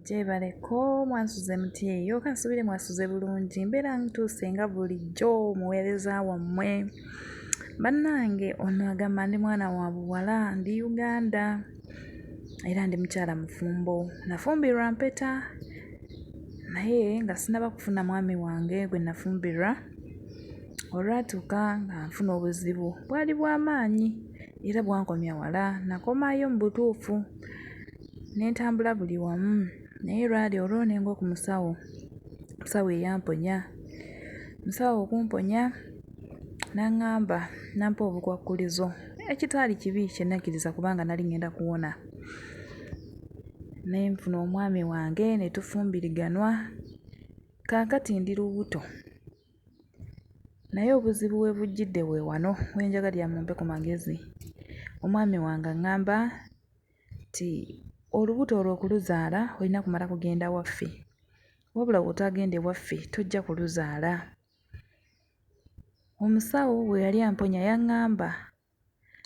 gyebaleko mwansuze muti eyo kansubire mwasuze bulungi mbeera ntuuse nga bulijjo muweereza wammwe bannange ono agamba ndi mwana wa buwala ndi uganda era ndi mukyala mufumbo nafumbirwa mpeta naye nga sinaba kufuna mwami wange gwe nafumbirwa olwatuuka nga nfuna obuzibu bwali bw'amaanyi era bwankomya wala nakomayo mu butuufu Nentambula buli wamu naye lwali olwo nengwa ku musawo, omusawo eyamponya. Omusawo okumponya n'angamba n'ampa obukwakkulizo ekitaali kibi kye nakkiriza kubanga nali ng'enda kuwona. Ne nfuna omwami wange ne tufumbiriganwa, kaakati ndi lubuto naye obuzibu we bujjidde we wano we njagalira mumpe ku magezi. Omwami wange ang'amba nti olubuto olwo okuluzaala olina kumala kugenda waffe wabula bw'otaagenda ewaffe tojja kuluzaala. Omusawo bwe yali amponya yang'amba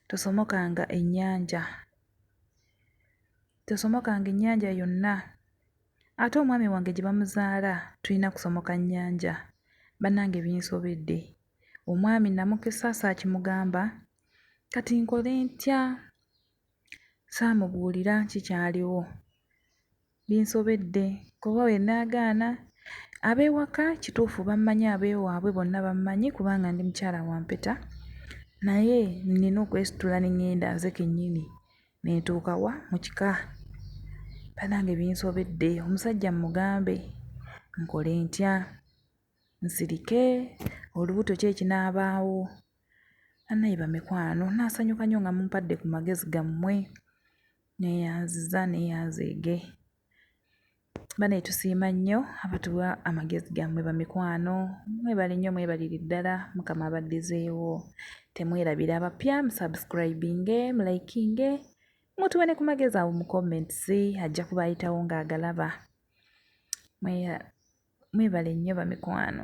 tosomokanga ennyanja, tosomokanga ennyanja yonna ate omwami wange gye bamuzaala tulina kusomoka nnyanja. Bannange binsobedde, omwami namukisa saakimugamba kati nkole ntya? Saamubuulira ki kyaliwo. Binsobedde kuba bwe nnaagaana ab'ewaka kituufu bammanyi ab'ewaabwe bonna bammanyi kubanga ndi mukyala wa mpeta naye nnina okwesitula ne ŋŋenda nze kennyini ne ntuuka wa? Mu kika. Bannange binsobedde omusajja mmugambe nkole ntya? nsirike olubuto ki ekinaabaawo. Bannaye bamikwano nasanyuka nnyo nga mumpadde ku magezi gammwe. Neeyanziza neeyanzeege. Bannaye tusiima nnyo abatuwa amagezi gammwe bamikwano. Mwebale nnyo mwebalire ddala Mukama abaddizeewo. Temwerabira abapya musubscribinge, mulayikinge. mutuwe ne ku magezi awo mu comments ajja kuba ayitawo ng'agalaba mwebale nnyo bamikwano